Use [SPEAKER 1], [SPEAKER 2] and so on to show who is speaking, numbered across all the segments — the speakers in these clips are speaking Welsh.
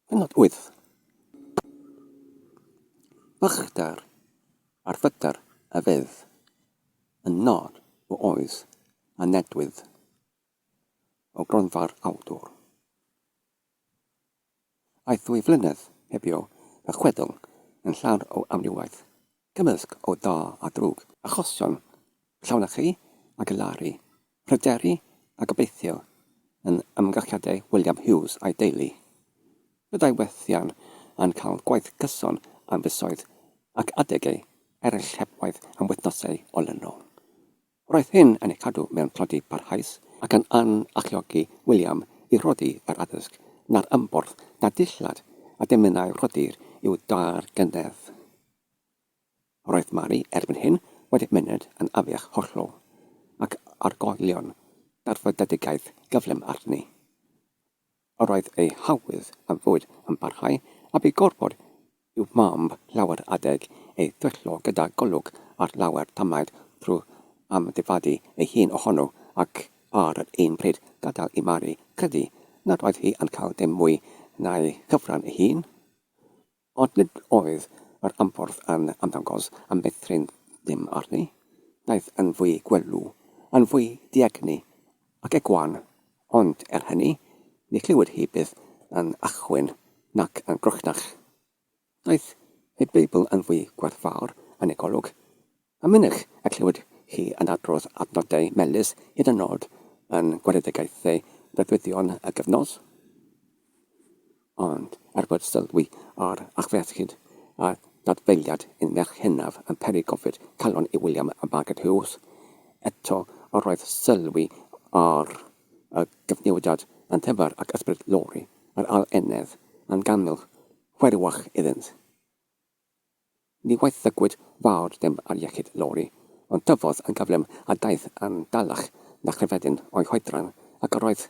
[SPEAKER 1] Pennod wyth, Bychdar ar fydr a fydd yn nod o oes a ledwyd o gronfa'r awdwr. Aeth ddwy flynedd hebio a chwedl yn llawn o amrywiaeth Cymysg o da a drwg. Achosion, llawnchu a galaru, pryderu a gobeithio yn ymgyrchiadau William Hughes a'i deulu. Byddai Wrethean yn cael gwaith cyson am fisoedd ac adegau eraill heb waith am wythnosau olynol. Roedd hyn yn ei chadw mewn tlodi parhaus ac yn yn alluogi William i rhoddi yr addysg na'r ymborth na dillad a dymunai rhoddir i'w dâr gynnar. Roedd Mary erbyn hyn wedi myned yn afiach hollol, ac argoelion darfydedigaeth gyflym arni. Yr oedd ei hawydd am fwyd yn parhau, a bu gorfod i'w mab lawer adeg ei thwyllo gyda golwg ar lawer tamaid drwy amddifadu ei hun ohono, ac ar yr un pryd gadael i Mari credu nad oedd hi yn cael dim mwy na'i chyfran ei hun. Ond nid oedd yr anffordd yn ymddangos am feithrin dim arni. Daeth yn fwy gwelw, yn fwy diegni ac egwan, ond, er hynny, ni chlywed hi byth yn achwyn nac yn groechnach. Daeth ei Beibl yn fwy gwerthfawr yn ei golwg, A mynych y clywed chi yn adrodd adnodau melys hyd yn nod yn gweledigaethau breuddwydion y gyfnod? Ond, er bod sylwi ar achfyechyd a dadfeiliad un merch hynaf yn peri gofid calon i William a Margaret Hughes, eto yr oedd sylwi ar y gyfnewidiad yn ddyfar ac ysbryd Lori, yr Ail Enedd, yn ganmol chwerwach iddynt. Ni waethyggwyd fawr ddim ar iechyd Lori, ond tyfodd yn gyflym a daeth yn dalach na chrefeddyn o'i hoedran, ac yr oedd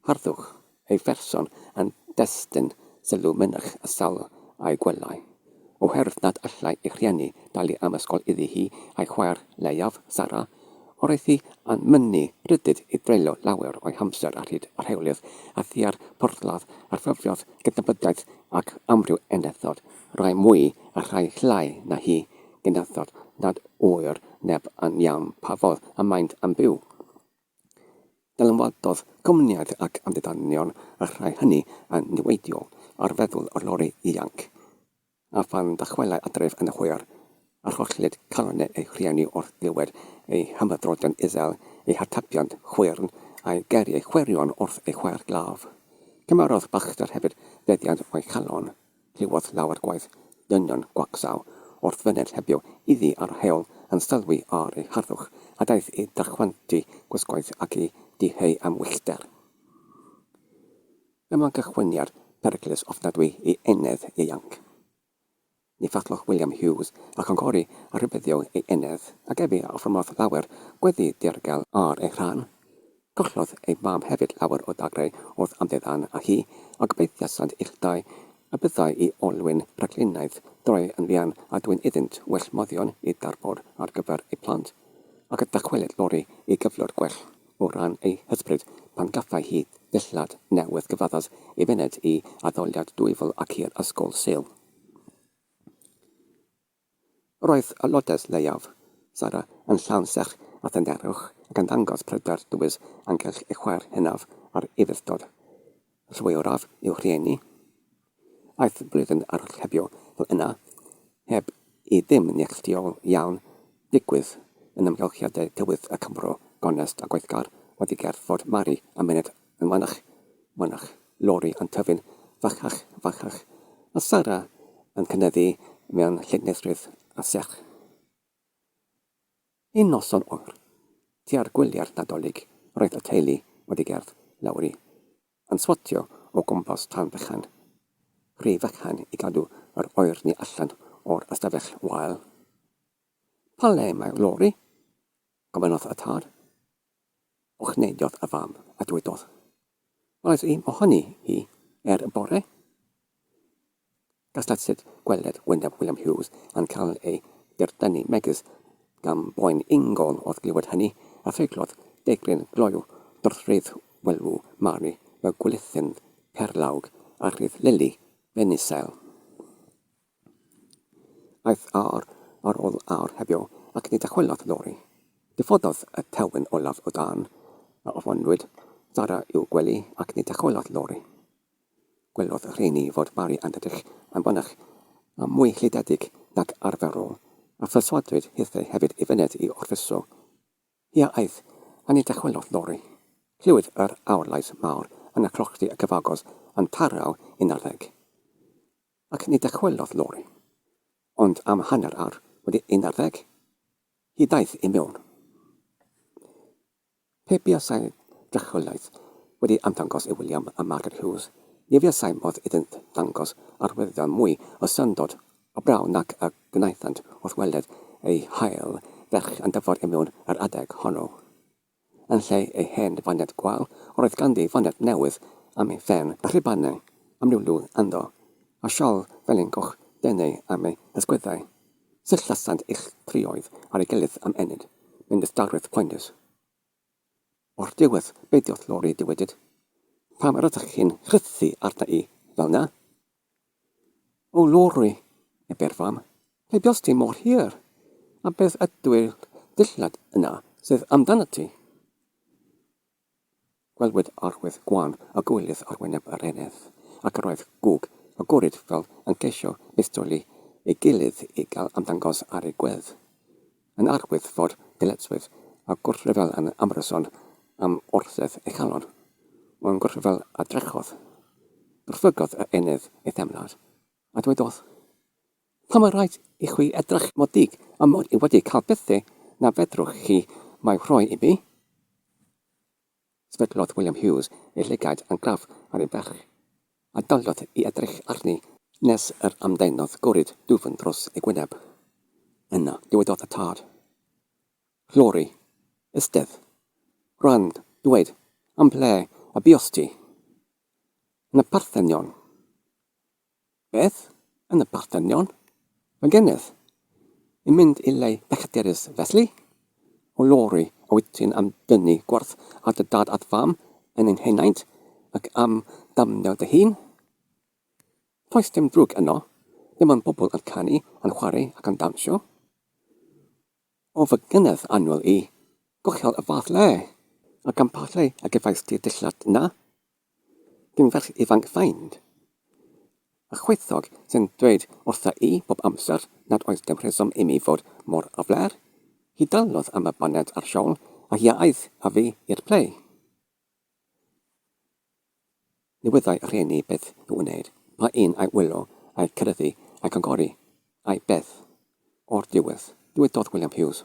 [SPEAKER 1] harddwch ei pherson yn destun sylw mynych y sawl a'i gwelai, oherwydd nad allai ei rhieni dalu am ysgol iddi hi a'i chwaer leiaf, Sara, yr oedd hi yn mynnu rhyddid i dreulio lawer o'i hamser ar hyd yr heolydd a thua'r porthladd a rhyfiodd gydnabyddiaeth ac amryw enethod Rhai mwy a rhai llai na hi, gyntaf nad ŵyr neb yn iawn pa fodd y maent yn byw. Dylanwadodd cwmnïaid ac amddiddanion y rhai hynny yn niweidiol ar feddwl y lori ifanc, a phan ddychwelai adref yn hwyr, arhollid calon ei rhieni wrth glywed ei hymhydroddion isel, ei hatebion chwyrn, a'i geiriau chwirion wrth ei chwaer glaf. Cymerodd Baxter hefyd feddiant o'i chalon. Clywodd lawer gwaith dynion gwacsaw wrth fyned hebio iddi a'r heol yn sylwi ar ei harddwch, a daeth i ddychwantu gwisgoedd ac i diheu am wyllter. Fe wna'n gychwyniad peryglus ofnadwy i enedd ieuanc. Ni fathodd William Hughes a chynghori a rhybuddio ei enedd, ac efi a offermodd lawer gweddi ddirgel ar ei rhan. Collodd ei fab hefyd lawer o dagrau wrth amddiddan â hi, a gobeithiasant ill dau y byddai i olwyn rhaglenaidd droi yn fuan a dwyn iddynt well moddion i darfod ar gyfer eu plant, ac y dychwelyd Lori i gyflwr gwell o ran ei hysbryd pan gaffai hi ddillad newydd gyfaddus i fyned i addoliad dwyfol ac i'r ysgol Sul. Roedd aelodau'r Lleiaf, Sara, yn llawn serch a thynerwch ac yn dangos pryder dywys ynghylch ei chwaer hynaf a'r Ufudd-dod. Rhywio'raf i'w rhieni. Aeth blwyddyn archebu fel yna, heb i ddim neilltuol iawn ddigwydd yn amgylchiadau tywydd y Cymro gonest a gweithgar oddi ger Fort Mary a myned Yn fanach, fanach, lori yn tyfu'n fachach, fachach, a Sara yn cynyddu mewn llinellrwydd a serch. Un noson oer, tua'r gwyliau'r Nadolig, roedd y teulu wedi gerdd lawr i, yn swatio o gwmpas tân bychan, rhy fychan i gadw yr oerni allan o'r ystafell wael. Pa le mae Lori? gofynnodd y tad. Uchnedodd y fam a dwedodd, Roedd un ohoni hi er y bore. Gastad sut gweled Wyneb William Hughes yn cael ei dirdynu megys gan boen ingol wrth glywed hynny, a threiglodd deigryn gloyw dwrthrydd welw Mary y gwylltyn perlawg a rhydd Lili ben isel. Aeth awr ar ôl awr heddiw ac ni ddychwelodd Lori. Diffododd y tewyn olaf o dân a ofonwyd Sara i'w gwely ac ni ddychwelodd Lori. Gwelodd y rheini fod Mari yn edrych yn fanach a mwy llidiedig nag arferol a pherswadwyd hithau hefyd i fyned i orffwyso hi a aeth a ni ddychwelodd Lori. Clywyd yr awr lais mawr yn y clochdy a cyfagos yn tarraw un ar ddeg. Ac ni dychwelodd Lauren, ond am hanner awr wedi un ar ddeg, hi ddaeth i mewn. Pe buasai drychwelaeth wedi ymddangos i William a Margaret Hughes, ni fuasai modd iddynt ddangos arwyddion mwy o syndod o braw nac y gwnaethant wrth weled eu hail ferch yn dyfod i mewn yr adeg honno. Yn lle ei hen ddifaniad gwael, yr oedd ganddi ddifaniad newydd am ei phen, a rhubanau am ryw lwg ynddo, a siôl felyn goch denau am ei hysgwyddau. Sut lasant eich trioedd ar ei gilydd am ennyd, mewn distawrwydd poenus? O'r diwedd, beidio'th lori diwedyd. Pam yr ydych chi'n rhythu arna i fel 'na? O Lowri, ebe'r fam, lle buost ti mor hir, a beth ydyw'r dillad yna sydd amdanat ti? Gwelwyd arwydd gwan o gywilydd ar wyneb yr eneth, ac yr oedd gwg a gwrid fel yn ceisio bistoli ei gilydd i gael ymddangos ar ei gwedd. Yn arwydd fod dyletswydd a gwrthryfel yn ymryson am orsedd ei chalon, mewn gwrthryfel a drechodd, brwdfrygodd y enedd ei theimlad, a dwedodd, Pam mae rhaid i chwi edrych mor ddig a mod i wedi cael bethau na fedrwch chi eu rhoi i mi? Sefydlodd William Hughes ei llygaid yn glaf ar ei bell, a daliodd i edrych arni nes yr ymddaenodd gorid dwfn dros ei gwyneb. Yna dywedodd y tad, Llori, eistedd, rand, dweud am ble y buost ti? Yn y Parthenion. Beth, yn y parthenion, y gennyf? Yn mynd i le pellterus felly? O Lori, a wyt ti'n am dynnu gwerth ar dy dad a't fam yn ein henaint, ac am damnio dy hun? Does dim drwg yno, dim ond pobl yn canu, yn chwarae ac yn dawnsio. O fy ngynedd annwyl i, gollol y fath le! Ac am pa le y gefais di'r dillad 'na? Dyn fach ifanc fain a chwithog sy'n dweud wrtha i bob amser nad oes dim rheswm i mi fod mor afler. Hi dalodd am y boned a'r shawl a hi a aeth a fi i'r plê. Ni wyddai y rhieni beth i'w wneud, pa un a'i wylo, a'i cyryddu, a'i congori, ai beth. O'r diwedd, dywedodd William Hughes,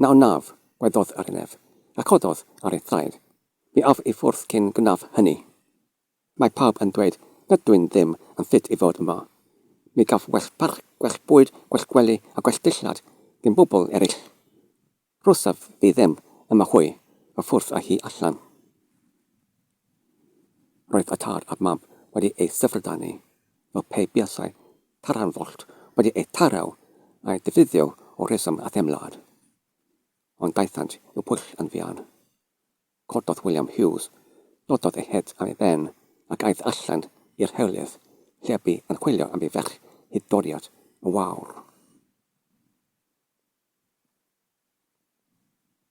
[SPEAKER 1] Na wnaf, gweddódd Arnef, a chododd ar ei thraed. Mi af i ffwrdd cyn gwnaeth hynny. Mae pawb yn dweud nad dw i'n ddim yn ffit i fod yma. Mi gaf gwell parch, gwell bwyd, gwell gwely a gwell dillad ddim bobl eraill. Rhosaf fi ddim yma hwy, a ffwrdd â hi allan. Roedd y tad a'r mam wedi eu syfrdanu fel pe buasai taranfollt wedi eu taro a'u defnyddio o reswm a theimlad. Ond daethant i'w pwll yn fuan. Cododd William Hughes, dododd ei het am ei ben, ac aeth allan i'r hewlydd, lle bu yn chwilio am ei ferch hyd doriad y wawr.